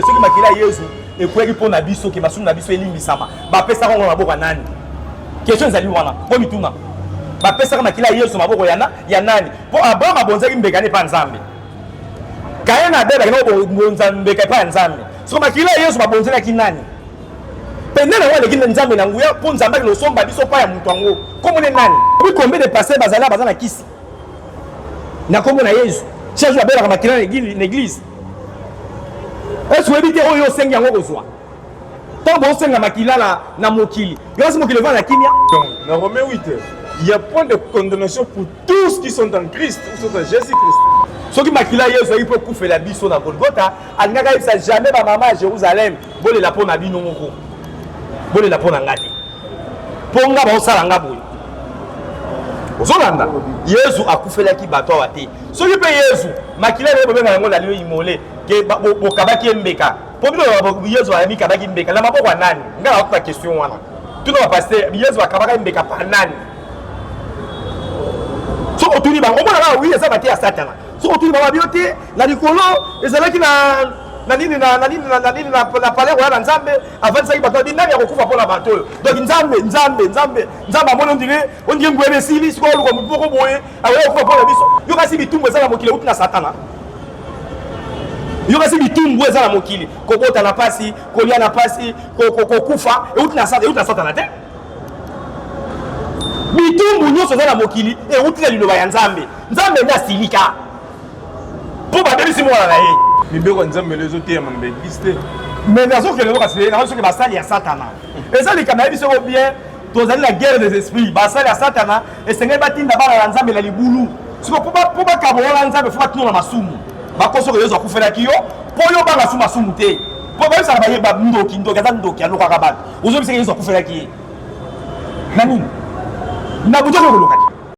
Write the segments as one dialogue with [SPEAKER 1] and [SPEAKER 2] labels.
[SPEAKER 1] soki makila ya yezu ekweli mpo na biso ke masumu na biso elimbisama bapesaka yango na maboko ya nani question ezali wana mpo mituna bapesaka makila ya yesu maboko yana ya nani mpo abraham abonzaki mbeka ne epai ya nzambe kaye na abelaki nakobonza mbeka epai ya nzambe soko makila ya yesu babonzelaki nani mpe nde nango aleki nzambe na nguya mpo nzambe akende kosomba biso epai ya moto yango nkombo ne nani obi kombe de paster bazali baza na kisi na nkombo na yesu chaque jour abelaka makila na eglise esi oyebi te oyo osengi yango kozwa ntango bosenga makila na, na mokili yoasi mokili evanda na kimia donc na rome 8
[SPEAKER 2] il y a point de condamnation pour tous qui sont en christ ou sont en jésus christ soki makila
[SPEAKER 1] yesu ayaki mpo ekufela biso na golgota alingaki ayebisa jamais bamama ya jérusalem bolela mpo na bino moko bolela mpo na ngai te mpo nga baosala nga boye ozolanda yezu akufelaki bato awa te soki mpe yezu makila naye bobenga yango na lio imole ke bokabaki embeka mpo bino yezu amikabaki embeka na maboko ya nani ngai nakuta question wana tuna bapaster yezu akabaka embeka pa nani soki otuni bango omona kaka wi eza bate ya satana soki otuni bango babio te na likolo ezalaki na na nini na na nini na na nini na na palais royal ya nzambe avandisaki bato abi nani akokufa mpo na bato oyo donc nzambe nzambe nzambe nzambe amoni ondire ondire nguya na esili sikoyo oluka motu moko boye akoya kokufa mpo na biso yo kasi bitumbu eza na mokili euti na satana yo kasi bitumbu eza na mokili kobota na mpasi kolia na mpasi kokufa euti na satana te bitumbu nyonso eza na mokili euti na liloba ya nzambe nzambe nde asilika mpo babebisi mwana na ye mibeko ya nzambe lelo
[SPEAKER 2] ezoteyama na baeglise te mais nazokende
[SPEAKER 1] lelo kasi nakoki soki basali ya satana eza likambo nayebi soko bien tozali na guerre des esprits basali ya satana esengeli batinda bana ya nzambe na libulu siko mpo bakabola nzambe fo batuna na masumu bakosoko yesu akufelaki yo mpo yo banga su masumu te mpo bayebisaka baye bandoki ndoki aza ndoki alokaka bato ozobisaka yesu akufelaki ye na nini na butu okokoloka te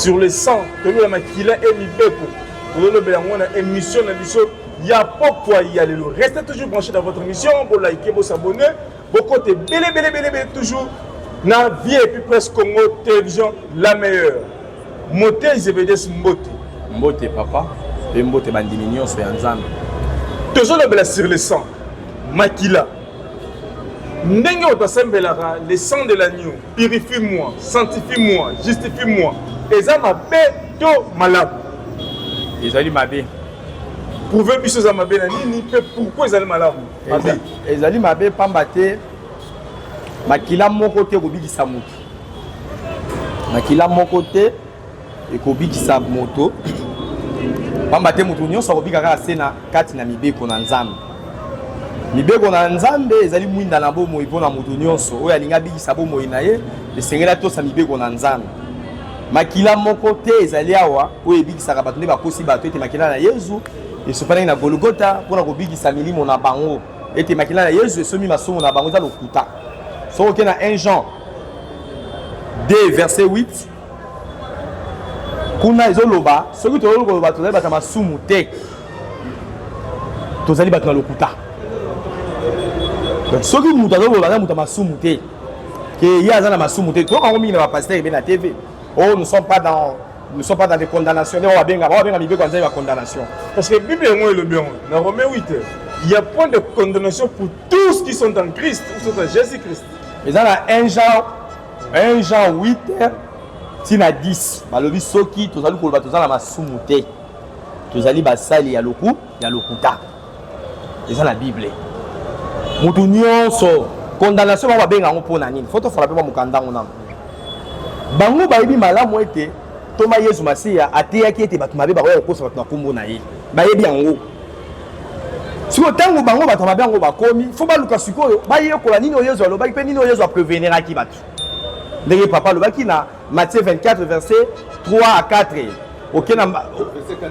[SPEAKER 2] sur le sang tolobela makila e mibeko tolobela yango na émission na biso ya pokwa ya lelo restez toujours branché dans votre émission bolike bosabonne bokote ebele ebele ebele ebele toujours na vie epuis presse congo télévision la meilleure mote zebedes mbote mbote papa
[SPEAKER 1] mpe mbote bandimi nyonso ya nzambe tozolobela
[SPEAKER 2] sur le sang makila ndenge otasembelaka le sang de l'agneau purifie moi sanctifie moi justifie moi eza mabe to malamu
[SPEAKER 1] ezali mabe prouve
[SPEAKER 2] biso eza mabe na nini mpe pourkui ezali malamu mabe ezali mabe
[SPEAKER 1] mpamba te makila moko te ekobikisa moto makila moko te ekobikisa moto pamba te moto nyonso akobika kaka se na kati na mibeko na nzambe mibeko na nzambe ezali mwinda na bomoi mpo na moto nyonso oyo alingi abikisa bomoi na ye esengeli atosa mibeko na nzambe makila moko te ezali awa oyo ebikisaka bato nde bakosi bato ete makila na yezu esopanaki na golgota mpo na kobikisa milimo na bango ete makila na yezu esomi masumu na bango eza lokuta soki oke na 1 jean 2 verset 8 kuna ezoloba soki tozali koloba tozali bato ya masumu te tozali bato na lokuta donc soki moto azali koloba aza moto ya masumu te ke ye aza na masumu te toyoka yango mingi na bapastere ebe na tv o oh, nous sommes pas dans nous sommes pas dans des condamnations nde babenga babenga mibeko ya nzambe ya condamnation parce que bible yango
[SPEAKER 2] elobi yango na rome 8 il y a point de condamnation pour tous qui sont en christ ou sont en jésus christ eza na un
[SPEAKER 1] genre 1 Jean 8 tina 10 balobi soki tozali koloba toza na masumu te tozali basali ya loku ya lokuta eza na bible motu nyonso condamnation bango babenga yango mpo na nini fo tofola mpe mwa mokanda yango nano bango bayebi malamu ete ntoma yesu masiya ateyaki ete bato mabe bakoya kokosa bato na nkombo na ye bayebi yango sikoyo ntango bango bato mabe yango bakomi fo baluka sikoyo bayekola nini oyo yezu alobaki mpe nini oyo yezu apreveniraki bato ndenge papa alobaki na matthieu 24 verset 3 à 4 oke na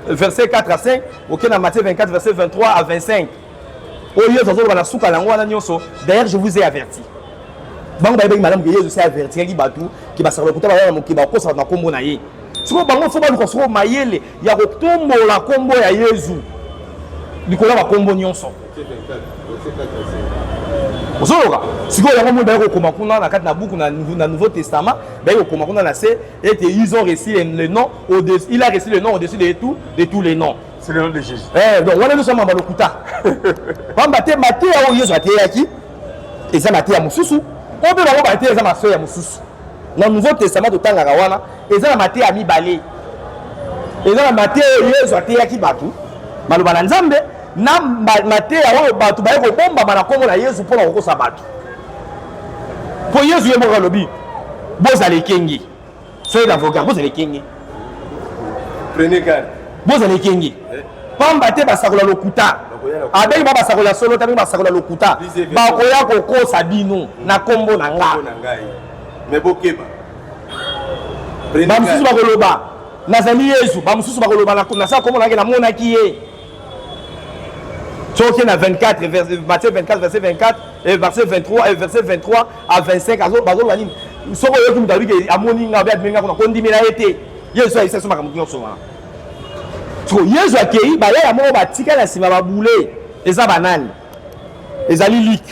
[SPEAKER 1] verset 4 à 5 oke na matthieu 24 verset 23 à 25 oyo yezu azoloba na suka na yango wana nyonso d'ailleurs je vous ai averti bango bayebaki malamu ke yezu se avertiraki bato ke basakala lokuta baya na mokili bakosa bato na nkombo na ye sikoyo bango fo baluka sikoyo mayele ya kotombola nkombo ya yezu likolo ya bakombo nyonso ozoloka sikoyo yango moi baye kokoma kuna na kati na buku na nouveau testament baye kokoma kuna na se ete ils ont reçu le nom il a reçu le nom au-dessus de tout de tous les noms c'est le nom de jésus eh,
[SPEAKER 2] donc wana nyonso mamba
[SPEAKER 1] lokuta pamba te mateya oyo yesu ateyaki eza mateya mosusu oyo mpe bango bateya eza masoya mosusu na nouveau testament totangaka wana eza na mateya mibale eza na mateya oyo yesu ateyaki bato maloba na nzambe na mateya oyo bato baye kobombama na nkombo na yesu mpo na kokosa bato mpo yesu ye moko alobi bozala ekenge soki na voka bozala ekenge
[SPEAKER 2] Prenez garde. Bozala ekenge. Eh.
[SPEAKER 1] Pamba te basakola lokuta. Abengi ba basakola solo tabi basakola lokuta. Bakoya kokosa bino na kombo na nga. Mais bokeba. Bamususu bakoloba nazali Yesu, bamususu bakoloba na nasala kombo na nga namonaki ye. Soki na 24 verset 24 verset 24 et verset 23 et verset 23 a 25 azo bazoloba nini soko oyoki moto abike amoni nga obe abimi nga kuna kondimela ye te yesu ayebisa biso makambo nyonso wana soko yesu akei bayaya moko batika na nsima babule eza banani ezali lik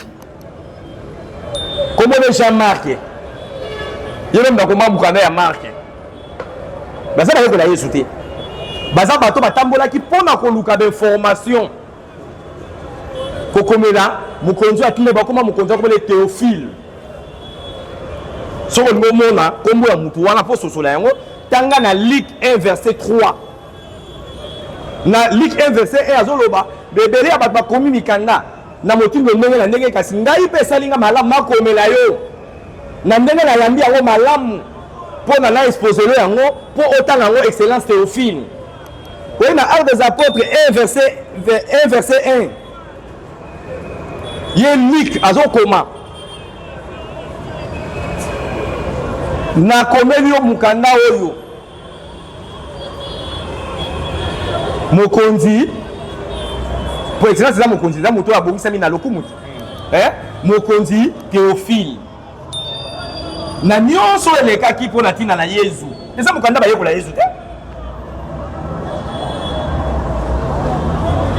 [SPEAKER 1] komone jean marke ye meme bakoma mokanda ya marke baza bayekola yesu te baza bato batambolaki mpo na koluka bainformation kokomela mokonzi oyo atindaki bakoma mokonzi akomela ye teofile soki olingi omona nkombo ya motu wana mpo ososola yango tanga na lik 1 verset 3 na lik 1 verset 1 azoloba ebele ya bato bakomi mikanda na motindo ndenge na ndenge kasi ngai mpe esali ngai malamu nakomela yo na ndenge nayambi yango malamu mpo na na exposelo yango mpo otanga yango excellence teofile Oui, na Actes des Apôtres 1 verset 1 verset 1. Ye Luc azokoma nakomeli yo mokanda oyo mokonzi po excellence eza mokonzi eza moto oyo abongisami na lokumu te eh? mokonzi Théophile na nyonso elekaki mpo na ntina na yezu eza mokanda bayekola yezu te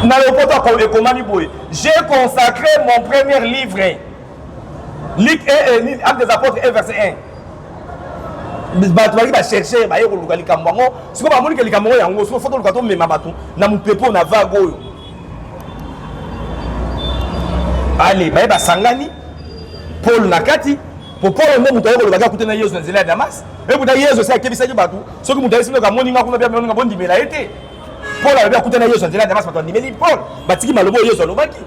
[SPEAKER 1] na lopoto ekomami boye j'ai consacré mon premier livre lik eh, eh, acte des apôtres e verset 1 bato balaki bacherche baye koluka likambo yango sikoyo bamoni ke likambo yango yango sikoyo fo toluka tomema bato na mopepe oyo na vague oyo ale baye basangani pole na kati po pole nde moto aye kolobaki akuta na yesu na nzela ya damas ekuta yesu esi akebisaki bato soki moto ayesi ndoka amoni nga kuna bia moninga bondimela ye te pole alobi akuta na yesu na nzela ya damas bato andimeli pole batiki maloba oyo yesu alobaki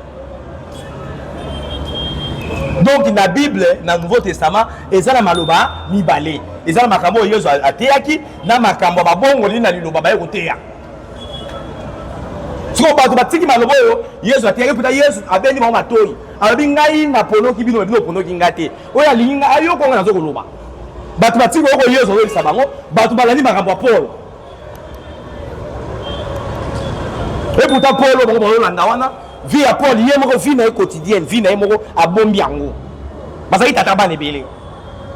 [SPEAKER 1] donc na bible na nouveau testament eza na maloba mibale eza na makambo oyo yesu ateyaki na makambo ya babongoli na liloba baye koteya sikoyo bato batiki maloba oyo yesu ateyaki mputa yesu abendi bango matoi alobi ngai naponoki bino bino oponoki ngai te oyo alingi ngai ayoko ngai nazo koloba bato batiki oyoko yesu azoyebisa bango bato balandi makambo ya polo eputa polo bango bazolanda wana vie ya paul ye moko vie na ye quotidienne vie na ye moko abombi yango bazali tata bana ebele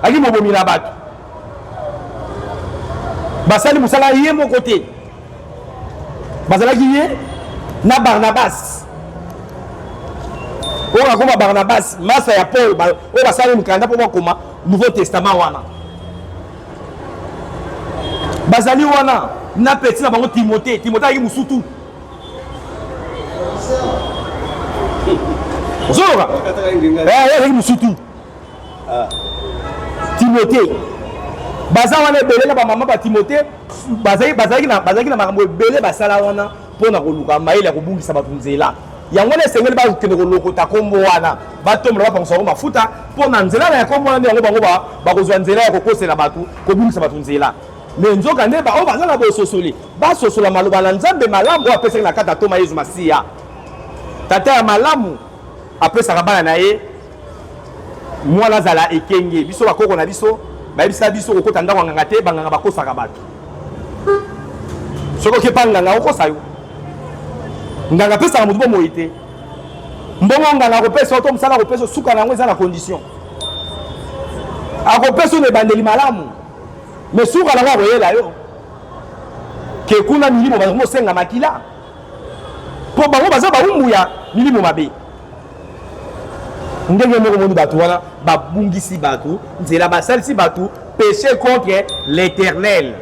[SPEAKER 1] ali mobomi na bato basali mosala ye moko te bazalaki ye na barnabas oyo akoma barnabas masa ya paul oyo basali mokanda mpo bakoma nouveau testament wana bazali wana na peti na bango timote timote ayaki mosutu ozoyoka eh, ayaki mosutu ah. timote baza wana ebele na bamama batimote bazalaki na makambo ebele basala wana mpo na koluka mayele ya kobungisa bato nzela yango wana esengeli bakende kolokota nkombo wana batombola bapangusa yango mafuta mpo na nzela na ya nkombo wana nde yango bango bakozwa nzela ya kokosela bato kobungisa bato nzela me nzoka nde baoyo baza na bososoli basosola maloba na nzambe malamu oyo apesaki na kati ya ntoma yezu masiya tata ya malamu apesaka bana na ye mwana azala ekenge biso bakoko na biso bayebisa biso kokota ndako ya nganga te banganga bakosaka bato soki okepa nganga akokosa yo nganga apesaka motu bomoi te mbongo nganga akopesa yo to mosala akopesa suka na yango eza na condition akopesa yo na ebandeli malamu me suka na yango akoyela yo ke kuna milimo bakomosenga makila mpo bango baza baumbu ya milimo mabe ndenge moko moni bato wana babungisi bato nzela basalisi bato péché contre l'éternel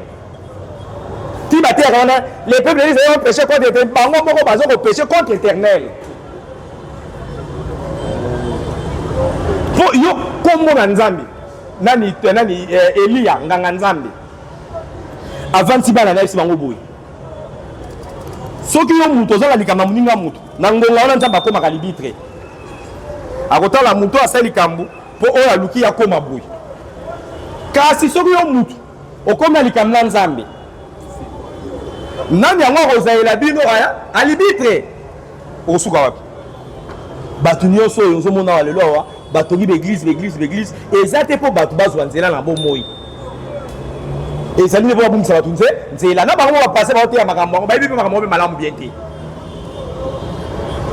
[SPEAKER 1] ti bateyaka wana les peuples ezali bapéché contre éternel bango moko baza kopéché contre éternel po yo kombo na nzambe nani eh, nani eh, eliya nganga nzambe avandisi bana na yebisi bango boye soki yo moto ozala likambo ya moninga moto Na ngonga wana Nzambe akomaka libitre, akotala moto oyo asali likambo mpo oyo aluki akoma boye. Kasi soki yo motu okomi na likambo na Nzambe, nani yango akozalela bino aya alibitre? Okosuka wapi? Bato nyonso oyo ozomona wa lelo awa batongi baeglize baeglize baeglize eza te mpo bato bazwa nzela na bomoi ezali nde mpo babungisa bato nze nzela na bango bapase baoteya makambo yango bayebi mpe makambo mpe malamu bien te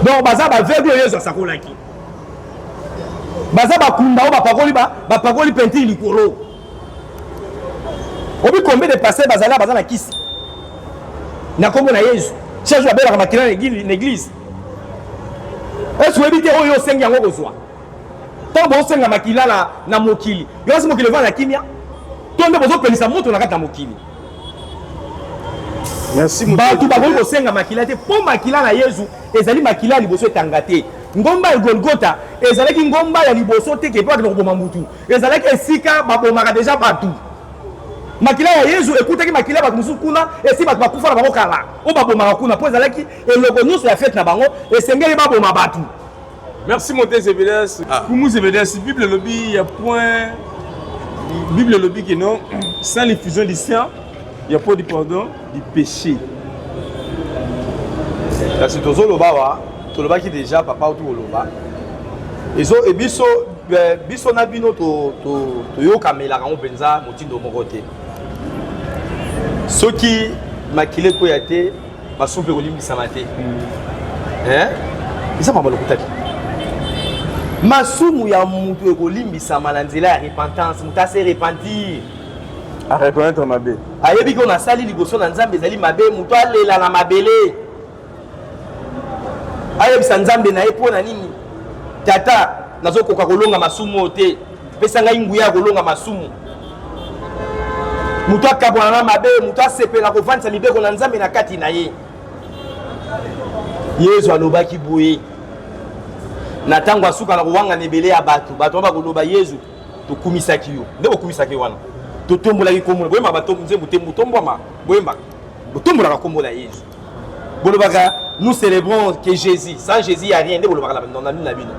[SPEAKER 1] donc baza baveugle oyo yesu asakolaki baza bakunda oyo bapakoli bapakoli pentire likolo obi combien de pasteur bazali baza na kisi na nkombo na yesu chaque jour abelaka makila na eglise esi oyebi te oyo osengi yango kozwa ntango bosenga makila na, na mokili yo asi mokili evanda na kimia to nde bozopelisa moto na kati na mokili bato bakoki kosenga makila te mpo makila na yezu ezali makila ya liboso etanga te ngomba ya golgota ezalaki ngomba ya liboso te ke mpo akende koboma motu ezalaki esika babomaka deja bato makila ya yezu ekutaki makila ya bato mosusu kuna esi bato bakufa na bango kala oyo babomaka kuna mpo ezalaki Eloko nyonso ya fete na bango esengeli baboma bato. Merci mon
[SPEAKER 2] tes evidence. Ah. Pour nous evidence, Bible lobby ya point Bible lobby que non sans l'effusion du sang, il y a pas du pardon du péché.
[SPEAKER 1] Kasi tozo loba wa, tolobaki déjà papa tout loba. Ezo e biso eh, biso na bino to to to yokamela kango penza motindo moko te. Soki makile ko ya te basupe kolimbisama te eh? eza mama lokutaki masumu ya moto ekolimbisama na nzela ya repentance moto ase repentir
[SPEAKER 2] areconnaitre mabe ayebi ko nasali
[SPEAKER 1] liboso na nzambe ezali mabe moto alela na mabele ayebisa nzambe na ye mpo na nini tata nazokoka kolonga masumu oyo te pesa ngai nguya ya kolonga masumu moto akabwana na mabe moto asepela kovandisa mibeko na nzambe na kati na ye yezu alobaki boye na ntango asukala kowangana ebele ya bato bato wana bakoloba yezu tokumisaki yo nde bokumisaki ye wana totombolaki nkombo boyembaka nzembo te botombwama boyembaka botombolaka nkombo na yezu bolobaka nous célébrons que jésus sans jésus ya rien nde bolobaka na nini na bino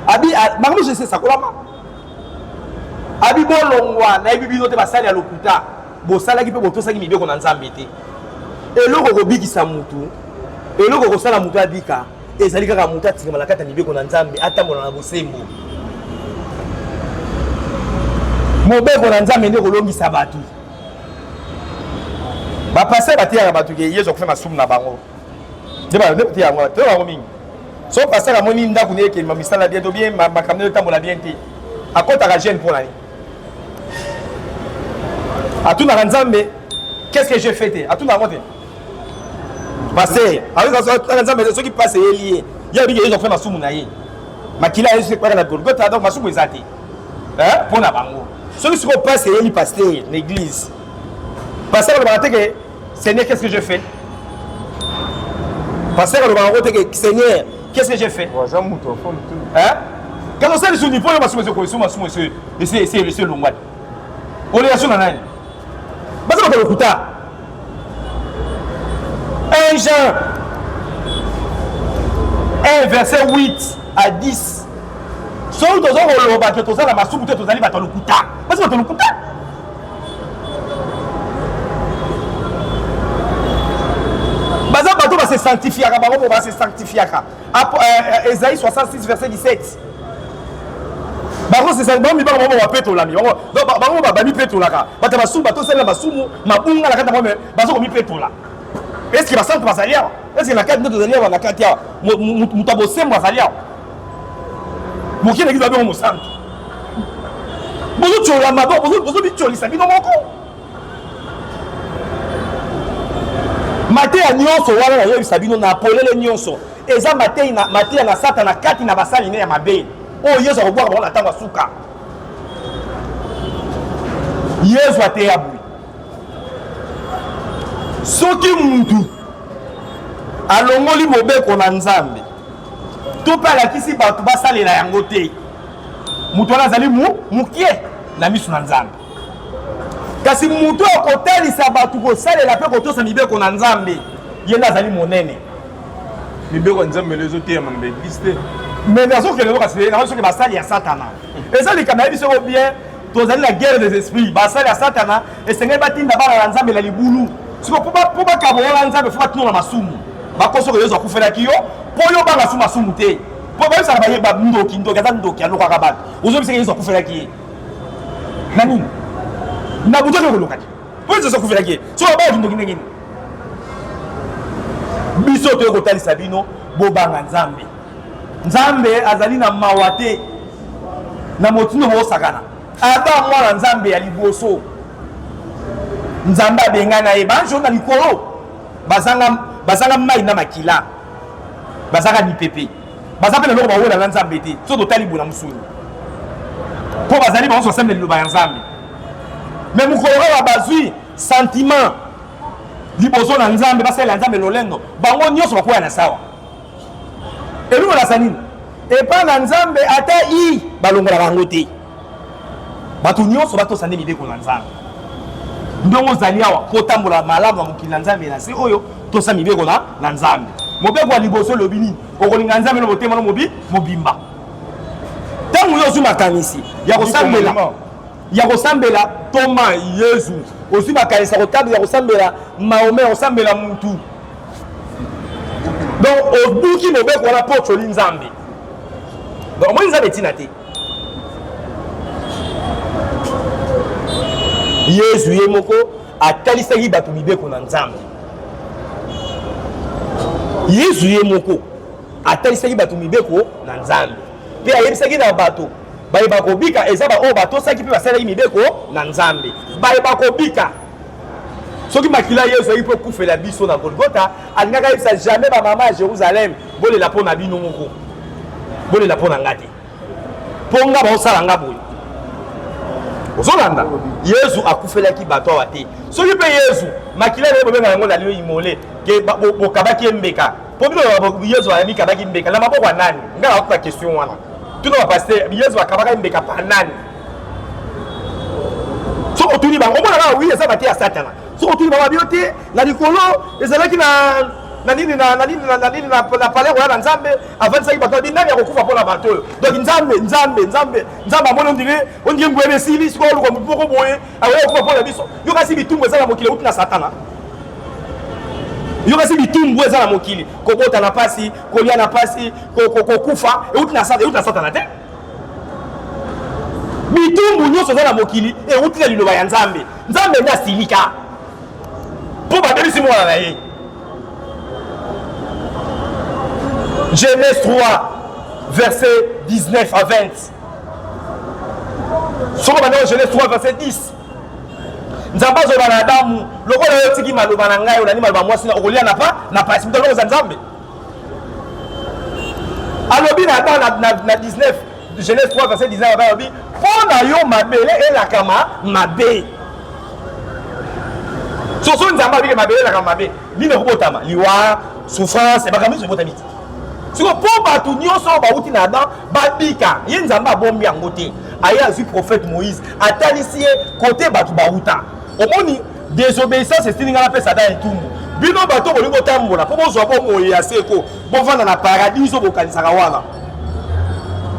[SPEAKER 1] abi makambo nyonso esesakolama abi bolongwa nayebi bino te basali ya lokuta bosalaki mpe botosaki mibeko na nzambe te eloko kobikisa motu eloko kosala motu abika ezali kaka motu atingama na kati ya mibeko na nzambe atambola na bosembo mobeko na nzambe nde kolongisa bato bapasteur bateyaka bato ke yesu akufa masumu na bango nde bateya yango toyo yango mingi so pasteur amoni ndako na ekeli misala bien to bien makambo nayo etambola bien te akɔtaka jeune mpo na ye atunaka nzambe qu'est-ce que je fais te atunaka yango te pasteur atunaka nzambe soki pase eyeli ye ye abiki yesu akufa masumu na ye makila ya yesu ekwaka na golgota donc masumu eza te eh, mpo na bango soki sikoyo mpasi eyeli pastere na église pastere alobaka te ke seigneur qu'est ce que je fais pasteur alobaka yango te ke seigneur qu'est-ce que j'ai fait waza moto afoni tu kaka osala lisusu nipo oyo masumu ezokoesu masumu esi elongwani olelaso na nani baza bato lokuta 1 Jean 1 verset 8 à 10 soki toza koloba ke toza na masumu te tozali bato ya lokuta basi bato ya lokuta baza bato base sanctifiaka bango mpo base sanctifiaka Esaïe 66 verset 17 bango sesali bango mibanga bango bapetolami bango bamipetolaka bato ya masumu batosali na masumu mabunga na kati yango me baza komipetola eske basantu bazali awa eske na kati nde tozali awa na kati awa moto ya bosembo azali awa moke na kizo abyango mosantu bozotyolama bozobityolisa bino moko mateya nyonso wana nayebisa bino na polele nyonso eza mateya na satana kati na basali ne ya mabe oyo yesu akobwaka bango na ntango ya suka yesu ateya boye soki mutu alongoli mobeko na nzambe to mpe alakisi bato basalela yango te moto wana azali mokie na miso na nzambe kasi moto oyo akotalisa bato kosalela mpe kotosa mibeko na nzambe ye nde azali monene mibeko
[SPEAKER 2] ya nzambe elo ezoteyama na baeglise te me nazokende
[SPEAKER 1] kasi nakoki soki basali ya satana eza likambo yebi soko bien tozali na guerre des esprits basali ya satana esengeli batinda bana na nzambe na libulu siko mpo bakabola na nzambe fo batino na masumu bakosoka yezu akufelaki yo mpo yo banga su masumu te mpo bayebisaka baye bandoki ndoki aza ndoki alokaka bato ozobisaka yezu akufelaki ye na nini na butu ake koloka te po ezoza kufelaki ye so babala kindoki ndenge nini biso toye kotalisa bino bobanga nzambe nzambe azali na mawa te na motindo bosakana ata mwana nzambe ya liboso nzambe abengana ye banjo na likolo bazanga mai na makila bazanga mipepe baza mpe na eloko bawela na nzambe te soki totali boye na mosuni mpo bazali banso basembe liloba ya nzambe me mokolo oyo bazwi sentiment liboso na nzambe basalela nzambe lolendo bango nyonso bakwea na sawa eloko nasa nini epai na nzambe ata i balongola bango te bato nyonso batosa nde mibeko na nzambe ndongo ozali awa mpo otambola malamu na mokili na nzambe na se oyo tosa mibeko na, na nzambe mobeko ya liboso elobi nini okolinga nzambe na motema no mobi mobimba ntango yo ozwi makanisi ya kosambela ya kosambela toma yezu ozwi makanisi ya kotabela ya kosambela maome ya kosambela mutu donc obuki mobeko wana mpo otyoli nzambe donc omoni nzambe ntina te yezu ye moko atalisaki bato mibeko na nzambe yezu ye moko atalisaki bato mibeko na nzambe mpe ayebisaki na bato baye bakobika eza baoyo batosaki mpe basalaki mibeko na nzambe baye bakobika soki makila yesu ayaki mpo ekufela biso na golgota alingaki ayebisa jamais bamama ya jérusalem bolela mpo na bino moko bolela mpo na nga te mpo nga baosala nga boye ozolanda yezu akufelaki bato awa te soki mpe yezu makila naye bobenga yango na lio imole ke bokabaki embeka mpo bino yezu amikabaki embeka na maboko ya nani nga nakoka question wana tuna bapaster yezu akabaka embeka pa nani soki otuni bango omona kaka wi eza bate ya satana soki otuni bango babio te na likolo ezalaki na na nini na na nini na na nini na na palais royal ya nzambe avandisaki bato abi nani akokufa mpo na bato oyo donc nzambe nzambe nzambe nzambe amoni ondire ondire nguya esili sikoyo oluka motu moko boye akoya kokufa mpo na biso yo kasi bitumbu eza na mokili euti na satana yo kasi bitumbu eza na mokili kobota na mpasi kolia na mpasi kokufa euti na satana te bitumbu nyonso eza na mokili euti na liloba ya nzambe nzambe nde asilika mpo babebisi mwana na ye genèse 3 verset 19 à 20 soko bandeko genèse 3 verset 10 nzambe azoloba na adamu lokola yo otiki maloba na ngai olandi maloba mwasi na okolia na pa na pasi moto alokoza nzambe alobi na adamu na 19 Genèse 3 verset 19 Baba alobi mpo na yo mabele elakama mabe soso nzambe abike mabele elakama mabe nini ekobotama liwa souffrance ebaka mingi ebotami te siko mpo bato nyonso oyo bauti na adam babika ye nzambe abombi yango te aye azwi prophète moïse atalisi ye kote bato bauta omoni désobéissance esili ngai napesa ata etumbu bino bato bolingi kotambola mpo bozwa bomoi ya seko bovanda na paradiso bokanisaka wana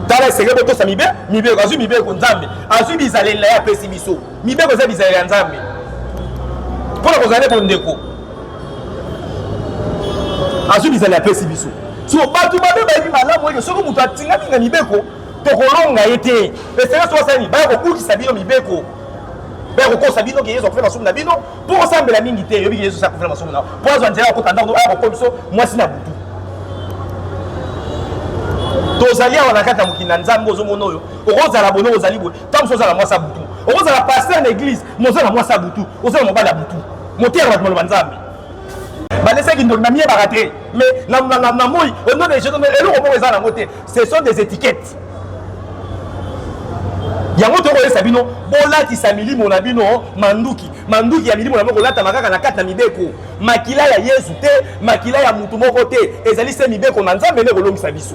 [SPEAKER 1] tala esenge botosa mibe mibeko azwi mibeko nzambe azwi bizaleli na ye apesi biso mibeko eza bizaleli ya nzambe mpo na kozala nde bondeko azwi bizaleli apesi biso so bato babe bayebi malamu ete soki moto atingami na mibeko tokolonga ye te esenge soki asalani baya kobukisa bino mibeko baya kokosa bino ke yesu akufela masumu na bino mpo osambela mingi te oyebi yesu akufela masumu na mpo azwa nzela akota ndako aya kokoli biso mwasi na butu tozali awa na kati ya mokili na nzambe ozomona oyo okozala bono ozali boye ntango mosusu ozala mwasi ya butu okozala paster na eglise moza na mwasi ya butu oza na mobali ya butu moteya bato maloba nzambe balesaki ndoki namiyebaka te mais na moi eloko moko eza nango te ce sont des étiquettes yango tokoyesa bino bolatisa milimo na bino manduki manduki ya milimo na bino kolatama kaka na kati na mibeko makila ya yesu te makila ya motu moko te ezali se mibeko na nzambe nde ekolongisa biso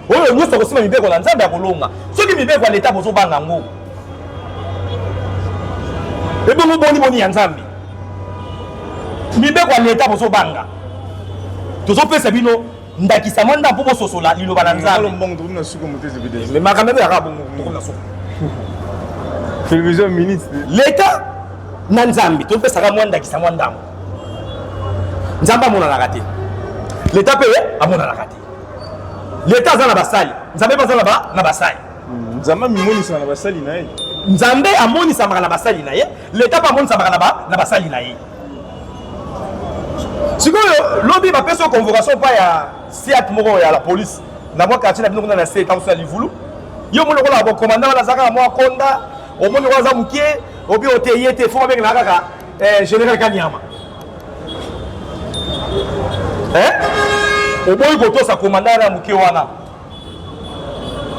[SPEAKER 1] oyo nyonso akosima mibeko na nzambe akolonga soki mibeko ya leta bozobanga yango ebongo boni boni ya nzambe mibeko ya leta bozobanga tozopesa bino ndakisa mwa nda mpo bososola liloba na nzambemakambo ebelaka bongo na suku television
[SPEAKER 2] minute leta
[SPEAKER 1] na nzambe topesaka mwa ndakisa mwa ndambo nzambe amonanaka te leta mpe amonanaka te leta aza na basali nzambe mpe aza na basali hmm, nzambe amimonisaka
[SPEAKER 2] na basali na ye nzambe
[SPEAKER 1] amonisamaka na basali na ye leta mpe amonisamaka na basali na ye sikoyo lobi bapesi yo convocation mpa ya siat moko ya la police na mwa quartier na bino kuna na se etango ya livulu yo omoni lokola bokomanda wana aza kaka mwa konda omoni lokola aza moke obi ote ye te fo babengana kaka eh, général kanyama eh? oboyi kotosa komanda wana ya moke wana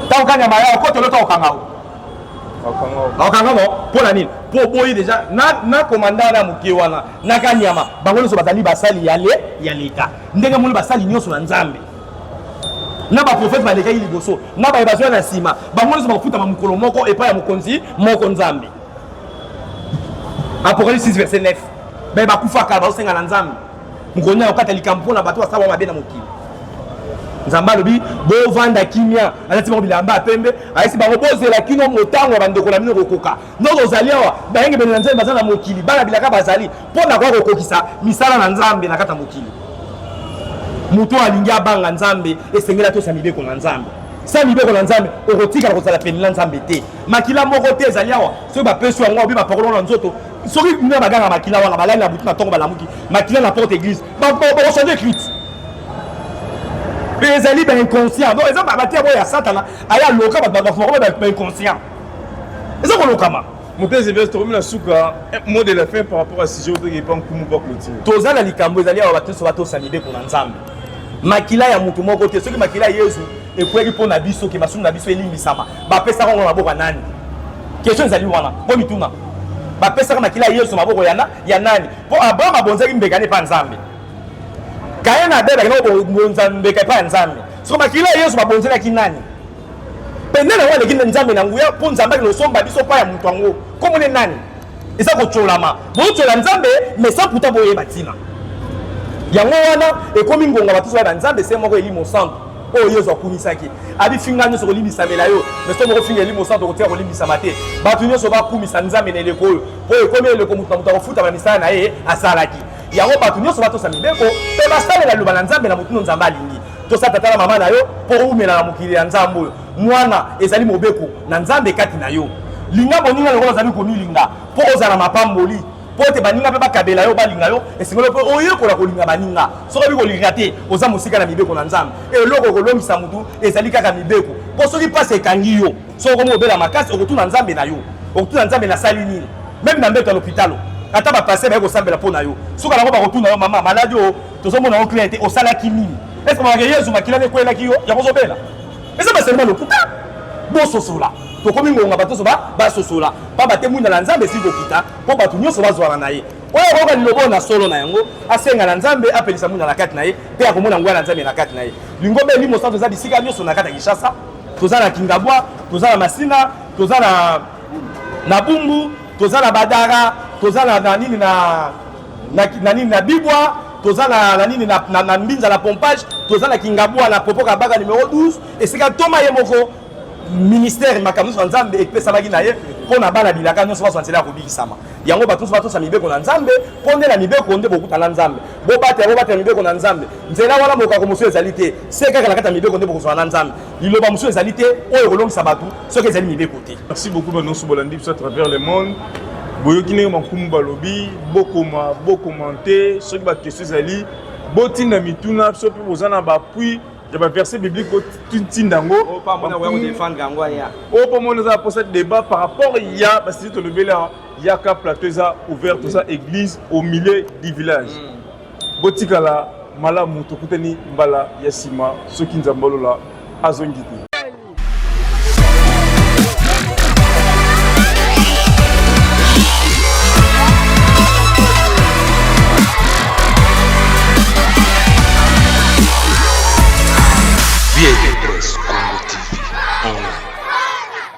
[SPEAKER 1] ntango kani ya mayao ko tolota kokanga o bakanga ngo mpo na nini mpo oboyi deja na komanda wana ya moke wana na kanyama bango nyonso bazali basali ya leta ndenge moni basali nyonso na nzambe na baprofete balekaki liboso na baye bazwa na nsima bango nyonso bakofutama mokolo moko epai ya mokonzi moko nzambe apocalypse 6 verset 9 baye bakufaka bazosenga na nzambe mokolo nini akokata likambo mpo na bato basala mabe na mokili nzambe alobi bovanda kimia alati bango bilamba ya pembe ayesi bango bozela kino motango ya bandeko na bino kokoka ndoko ozali awa bayengebene na nzambe baza na mokili bana bilaka bazali mpo na koya kokokisa misala na nzambe na kati ya mokili moto oyo alingi abanga nzambe esengeli atosa mibeko na nzambe sa mibeko na nzambe okotikala kozala pene na nzambe te makila moko te ezali awa soki bapesi yango obi bapakolo na nzoto soki kuna baganga makila wana balali na butu na ntongo balamuki makila na porte église bakochange écrite mpe ezali bainconscient donc eza batia boyo ya satana aya loka bato baforme bainconscient eza kolokama motezi veste tokomi
[SPEAKER 2] na suka eh, mot de la fin par rapport à sujet oyo tokepa nkumu bakoti toza na likambo ezali
[SPEAKER 1] awa bakristo batosa mibeko na nzambe makila ya moto moko te soki makila ya yezu ekweli mpo na biso ke masumu na biso elimbisama bapesaka yango na maboko ya nani kestion ezali wana mpo mituna bapesaka makila ya yesu maboko yana ya nani mpo abraham abonzaki mbeka ne epai ya nzambe kaye na abel akendaki kobonza mbeka epai ya nzambe soko makila ya yesu babonzelaki nani mpe nani yango aleki nzambe na nguya mpo nzambe akende kosomba biso epai ya moto yango komone nani eza kotyolama bootyola nzambe mais sans pourtant boyeba ntina yango wana ekomi ngonga batusu bayeba nzambe se moko elimo santu oyo yesu akumisaki abifinga nyonso kolimbisamela yo mais soki okofinga elimo santu okotika kolimbisama te bato nyonso bakumisa nzambe na eleko oyo oyo ekomi eleko moto na moto akofutama misala na ye asalaki yango bato nyonso batosa mibeko mpe basalela liloba na nzambe na motindo nzambe alingi tosa tata na mama na yo mpo oumela na mokili ya nzambe oyo mwana ezali mobeko na nzambe kati na yo linga boninga lokola ozali komilinga mpo ozala mapamboli mpo ete baninga mpe bakabela yo balinga yo esengeli mpe oyekola kolinga baninga soki obi kolinga te oza mosika na mibeko na nzambe eloko okolongisa motu ezali kaka mibeko mpo soki mpasi ekangi yo soki okomi obela makasi okotuna nzambe na yo okotuna nzambe nasali nini meme na mbeto ya lopitalo ata bapaster baye kosambela mpo na yo suka nango bakotuna yo mama maladi oyo tozomona yo klere te osalaki nini eske bakake yezu makila na ekwelaki yo yango ozobela eza baserma lokuta bososola tokomi ngonga bato nyonso basosola mpamba te mwinda na nzambe esili kokita mpo bato nyonso bazwana na ye oyo akoyoka liloba oyo na solo na yango asenga na nzambe apelisa mwinda na kati na ye mpe akomona nguya na nzambe na kati na ye lingomba elimo santo eza bisika nyonso na kati ya kinshasa toza na kingabwa toza na masina toza na na bumbu toza na badara toza na nini na na, na nini na bibwa toza na, na nini na, na, na mbinza na pompage toza na kingabwa na popo kabaka numero 12 esika ntoma ye moko ministère makambo nyonso ya nzambe epesamaki na ye mpo na bana bilaka nyonso bazwa nzela ya kobikisama yango bato nyonso batosa mibeko na nzambe mpo nde na mibeko nde bokuta na nzambe bobatela bobatela mibeko na nzambe nzela wana mokako mosusu ezali te se kaka na kati ya mibeko nde bokozwa na nzambe liloba mosusu ezali te oyo ekolongisa bato soki ezali mibeko te merci beaucoup banonso bolandi
[SPEAKER 2] biso à travers le monde boyoki ndenge bankumu balobi bokoma bokomante soki bakestion ezali botinda mituna biso mpe boza na bapuis ya baverset biblique botinda yango
[SPEAKER 1] oyo mpo mona eza mposa
[SPEAKER 2] débat par rapport ya basili tolobeli yaka plateau eza ouvert toza église au milieu du village mm. botikala malamu tokutani mbala ya nsima soki nzambe olola azongi te